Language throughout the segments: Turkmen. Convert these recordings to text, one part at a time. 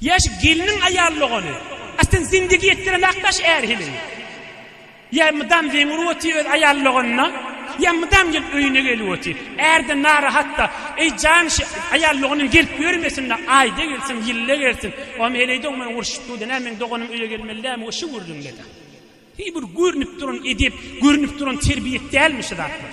Ýaş gelniň aýal dogany. A sen zindigi etdiremäk daş är hiliň. Ýa mydam zeň urup otyr öz aýal doganyna, ýa mydam gelip öýüne gelip otyr. Ärden narahat-da. Eý jan şi aýal doganyň gelip ýörmesin-de, aýda gelsin, ýylda gelsin. Oňam heleýde oňman urşup dur-da, nä meň doganym öýe gelmeli dälmi we şu gürrüňde-de. Heý bir görnüp duran edep, görnüp duran terbiýet dälmi şu zatlar.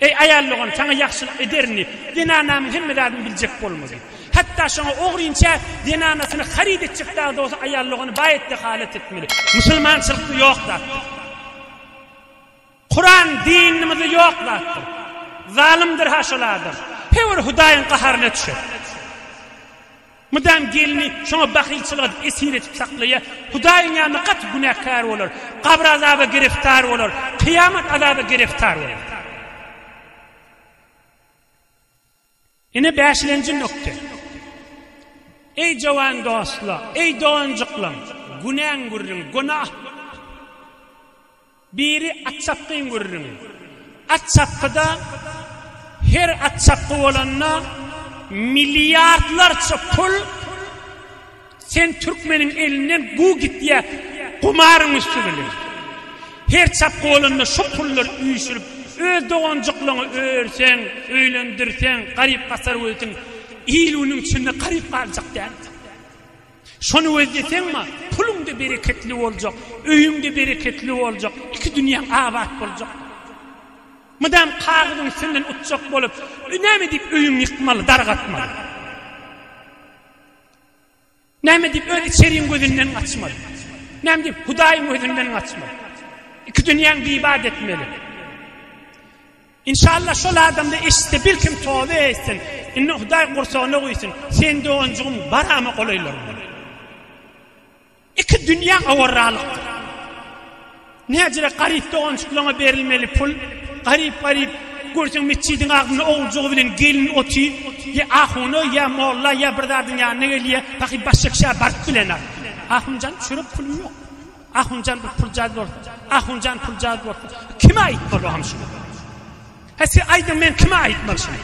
Eý, aýal dogan, saňa ýagşylyk ederin diýip, zenanamyň hemme zadyny biljek bolma diýip. Hatda şoňa ogrynça zenanasyny haryt etjek dagy dogsa aýal dogany baýat dehalat etmeli. Musulmançylykda ýok zat bu. Kuran dinimizde ýok zatdyr. Zalymdyr-ha şol adam. Her bir Hudaýyň gaharyna düşer. Mydam gelini şoňa bahylçylyk edip esir edip saklaýar. Hudaýyň ýanynda gaty günäkär bolar. Gabyr azaba giriftar bolar. Kyýamat azaba giriftar bolar. Ine bäşilenji nukda. Eý jowan dostlar, eý doganjyklam, günäň gürrüň, günah. Biri atçapgyň gürrüňi. Atçapgyda her atçapgy bolanda milliardlarça pul sen türkmeniň elinden guw gitýär gumaryň üsti bilen. Her çapgy bolanda şo pullar üýşürip öz doganjyklaňy örseň, öýlendirseň, garyp-gasar bolsaň il-günüň içinde garyp galjak däldir. Şony gözleseň-ma, puluň-da bereketli boljak, öýüň-de bereketli boljak, iki dünýäň abat boljak. Mydam kagyzyň üstünden utjak bolup, näme diýip öýüňi ýykmaly, dargatmaly? Näme diýip öz içeriň gözünden gaçmaly? Näme diýip Hudaýyň gözünden gaçmaly? Iki dünýäň bibat etmeli. Inşallah şol adamda eşitse birkim toba etsin indi hudaý gursagyna guýsun seň doganjygym barama golaýlar bolar. Iki dünýä awarralykdyr. Näcirek garyp doganjyklaňa berilmeli pul garyp garyp görseň metjidiň agzynda oguljygy bilen gelin oty ýa ahuna ýa molla ýa bir zadyň ýanyna gelýä pahy başşekşä baryp bilenok. Ahunjan çörek pulum ýok. Ahunjan bir puljaz bolsa, Ahunjan puljaz bolsa, kime aýtmaly o hamşyny? He siz aýdyň men kime aýtmaly şuny?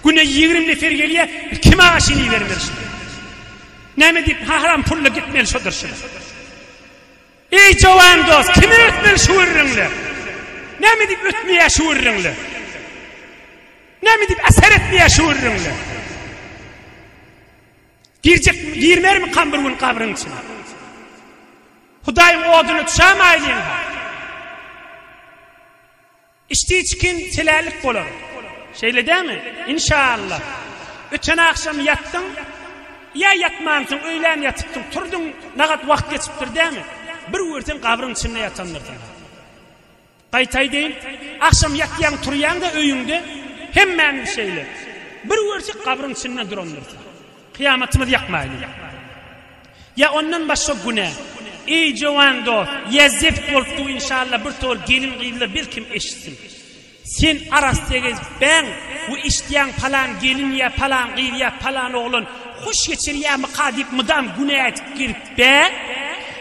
Güne 20 nefer gelýär, kime aşyny bermeli şuny? Näme diýip haram pulla gitmeli şudur şuny? Ey jowan dost, kime ötmeli şu gürrüňle? Näme diýip ötmeýär şu gürrüňle? Näme diýip eser etmeýär şu gürrüňle? Girjekmi, girmermikam bir gün gabryň içine? Hudaýyň oduna düşämäýliň-ha. Içdi çikin çelälik bolar. Şeýle dämi? Inşaalla. Öten agşam ýatdyň, ýa ýatmansyň, öýlän ýatypdyň, turduň, nagat wagt geçipdir dämi? Bir görseň gabryň içinde ýatandyrsyň. Gaýta aýdaýyn, agşam ýatýaň turýaňda öýüňde hemmämiz şeýle. Bir görsek gabryň içinde durandyrsa. Kyýamatymyz ýakmaýly. Ýa ondan başga günä. Eý jowan dost, ýa zeft bolupdyr inşalla bir tol gelin gyzlar belkim eşitsin. Sen arassa gezip bäň we eşitýäň palan gelin ýa palan gyz ýa palan oglan hoş geçirýärmyka diýip mydam günä edip girip Be,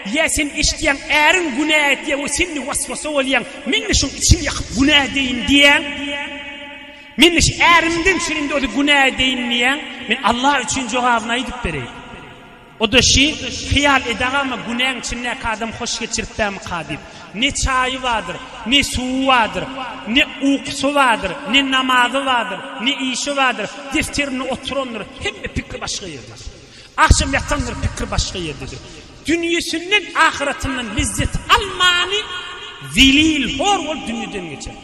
ýa sen eşitýäň, äriň günä etýär we sen-de was-wasa bolýaň, Men-de şoň içimi ýakyp günä edeýin diýýäň. Men-de şu ärimden şu indi ozü günä edeýin diýýäň. Men Allah üçin jogabyny aýdyp bereýin. O-da şi, hyýal edagama günäň içindäki adam hoş geçirip bärmika diýip. Ne çaýy bardyr, ne suwy bardyr, ne ukusy bardyr, ne namazy bardyr, ne işi bardyr, defterinde oturandyr, hemme pikri başga ýerde. Agşam ýatandyr pikir başga ýerdedir. Dünýesinden, ahyratyndan lezzet almany zelil, hor bolup dünýeden geçer.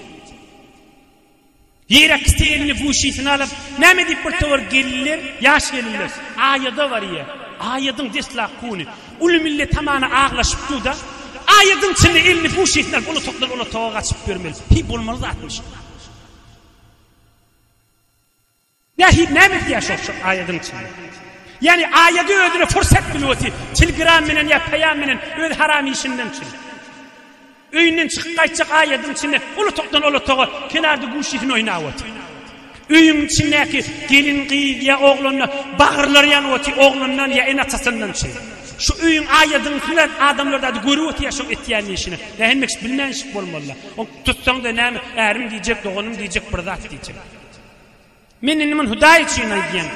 Ýere kisi elini buşysyna alyp, näme diýip bir towar gelinler, ýaş gelinler, aýada barýar. Aýadyň deslap kuny. Uly millet hamana aglaşyp dur da, aýadyň içinde elini buşysyna alyp, ulatakdan ulataga gaçyp ýörmeli. Hi, bolmaly zatmyş. Wahid näme etýär şo aýadyň içinde? Ýagny aýady özüne fursat bilwti tilgram menen ýa peýam menen öz haram işinden çyn. Öýünden çykyp gaýtjak aýadyň içinde ol otagdan ol otaga kenarda guşysyny oýnap otyr. Öýüň içindäki gelin gyz ýa oglanlar bagyrlary ýanyp otyr oglandan ýa ene atasyndan çyn. Şu öýüň aýadyň içinde adamlar dady görüp otýar şoň etýän işini. Nähemmeşik bilmänşik bolmalylar. Ony tutsaň-da näme ärim diýjek doganym diýjek bir zat diýjek. Men indi muny Hudaý üçin aýdýan.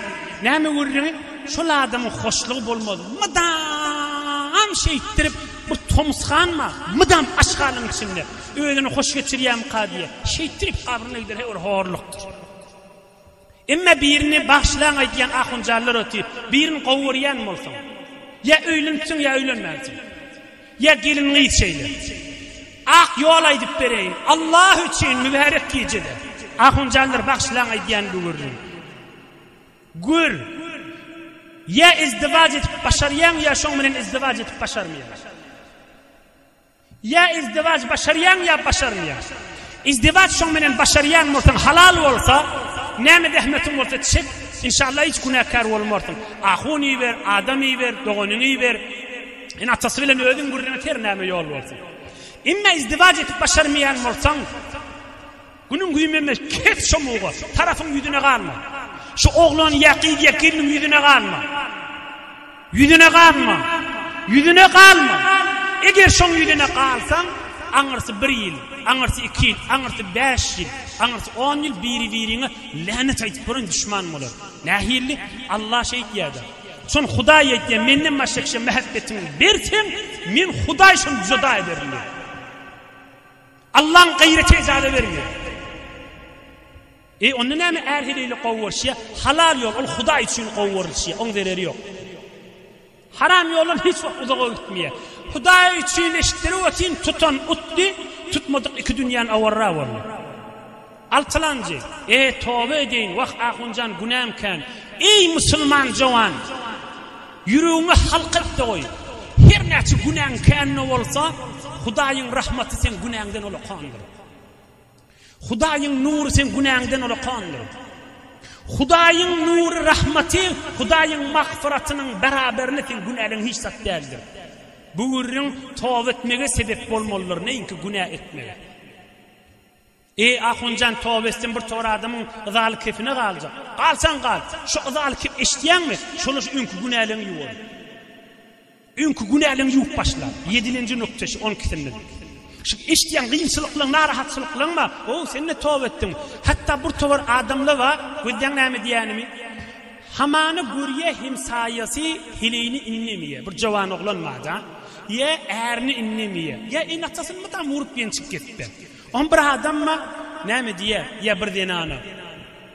Näme gürrüňi? Şol adamyň hoşlugy bolmaz. Mydam şeýtdirip, bir tomusganma, mydam aşgalyň içinde. Özüni hoş geçirýärmika diýe. Şeýtdirip gabryna gider, he ol horlukdyr. Emma birini bagşylaň aýdýan ahunjanlar otyr. Birini gowy görýän bolsaň, ýa öýlenipsiň, ýa öýlenmänsiň. Ýa gelin-gyz şeýle. Ak ýol aýdyp bereýin. Allah üçin mübärek gijede. Ahunjanlar bagşylaň aýdýan bu gürrüň. Gür. Ýa izdiwaç edip başarýaň ýa şoň bilen izdiwaç edip başarmaýaň. Ýa izdiwaç başarýaň ýa başarmaýaň. Izdiwaç şoň bilen başarýaň bolsaň halal bolsa, näme zähmetiň bolsa çek, inşallah hiç günäkär bolmarsyň. Ahun iber, adam iber, doganyňy iber. Ene atasy bilen özüň gürleňet her näme ýol bolsun. Emma izdiwaç edip başarmaýan bolsaň, günüň güýmeme kes şo muga, tarapyň ýüzüne ganma. Şu oglan ýa gyz ýa gelniň ýüzüne ganma. Ýüzüne ganma. Ýüzüne galma. Eger şoň ýüzüne galsaň, aňyrsy bir ýyl, aňyrsy iki ýyl, aňyrsy bäş ýyl, aňyrsy on ýyl biri-biriňe länet aýdyp görün düşman bolar. Nähilli? Allah şeýt ýa-da. Şony Hudaý aýtýar, Menden başga kişä mähäbbetiňi berseň, Men Hudaý şony düzeda ederin diýip. Allaň gaýraty ejaza bermeýär. E onda näme är heleýle gowy görşýär? Halal ýol ol Hudaý üçin gowy görülşýär. Oň zereri ýok. Haram ýoldan hiç wagt uzaga gitmeýär. Hudaý üçin eşitdirip otyň tutan utdy, tutmadyk iki dünýäni awarra boldy. Altylanjy, E, toba edeýin, wah, ahunjan, günäm kän. Eý, musulman jowan! Ýüregiňe halk et-de goý. Her näçe günäň kän-de bolsa, Hudaýyň rahmaty seň günäňden olakandyr. Hudaýyň nury seň günäňden olakandyr. Hudaýyň nury, rahmaty, Hudaýyň magfyratynyň beraberine seň günäleň hiç zat däldir. Bu gürrüň toba etmege sebep bolmalydyr, näinki günä etmege. Eý, Ahunjan, Tawestin bir tor adamyň yzaly kepine galjak. Galsaň gal, şu yzaly kep eşitýäňmi, şonuň şu öňki günäleňi ýuwar. Öňki günäleňi ýuwup başla. Ýedilenji nukda şu on ikisinde diýip. Şu eşitýän kynçylyklaň, narahatçylyklaň bar. Ow, sen-de toba etdiň. Hatda bir towar adamlar bar, gözleň näme diýänimi. Hamany görýä hemsaýasy heleýini indemeýä. Bir jowan oglan bar-da. Ýa ärini indemeýä. Ýa ene-atasyny mydama urup ýençip gitdi. Oňa bir adamma näme diýýär? Ýa bir zenana?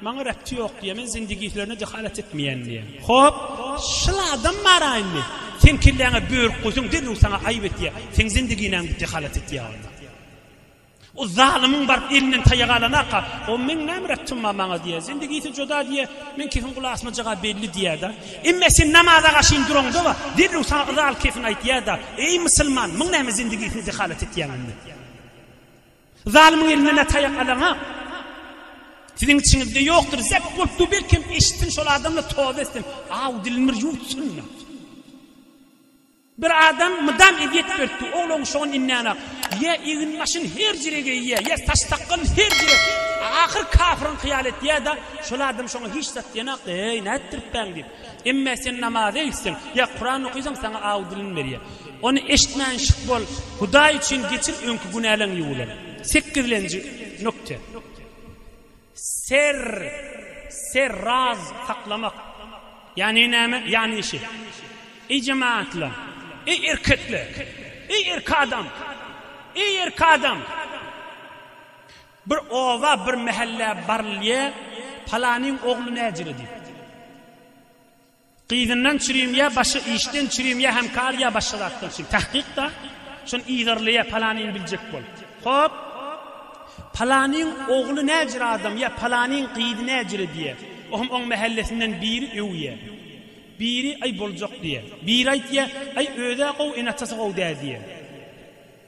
Maňa Rebçi ýok diýýär, men zindigi işlerine jehalat etmeýän diýýär. Hop, şol adam baraýynmy? Seň kelläňe börük guýsun, derrew saňa aýyp etýär. Seň zindigiňe gidip jehalat etýär onda. O zalymyň baryp elinden taýak alanaka, o meň näme Rebçim bar maňa diýýär. Zindigisi joda diýýär, meň kefim gulak asmajaga belli diýýär-de. Emma sen namaza gaşyn duraňda-a, derrew saňa yza alyp kefin aýtýar-da, Eý, musulman, muň näme zindigisine jehalat etýäň indi? Zalymyň elinden ne taýak alaňa Siziň içiňizde ýokdur. Zep bolup du belkem eşitsin şol adamla toz etsin. Aw dilini bir ýuwtsun. Bir adam mydam eziýet berdi. Ogluň şoň innenak. Ýa egin başyn her jire geýýä, ýa saç sakgal her jire. Ahyr kafirin hyýal etýä-de, şol adam şoňa hiç zat diýenak. Eý, nätdiripbäň diýip. Emme sen namaza gitseň ýa Kuran okysaň saňa aw dilini berýär. Ony eşitmän şyh bol, Hudaý üçin geçir öňki günäleň ýuwular. Sekizlenji nukte. Serr, serr raz saklamak. Ýani näme? Ýani şi. Eý jemaatlar, eý erkekler, eý erki adam, eý erki adam. Bir oba, bir mähelle barylýa, Palanyň ogly näjere diýip. Gyzyndan çürim ýa başga işden çürim ýa hem kar ýa başga zatdan çürim. Tahkykda şony yzarlaýa Palanyny biljek bol. Hop. Palanyň ogly näjere adam ýa Palanyň gyzy näjere diýe. O hem oň mähellesinden biri öwýä. Biri aý boljak diýe. Biri aýtýa, aý özä gowy, ene-atasy gowy dä diýe.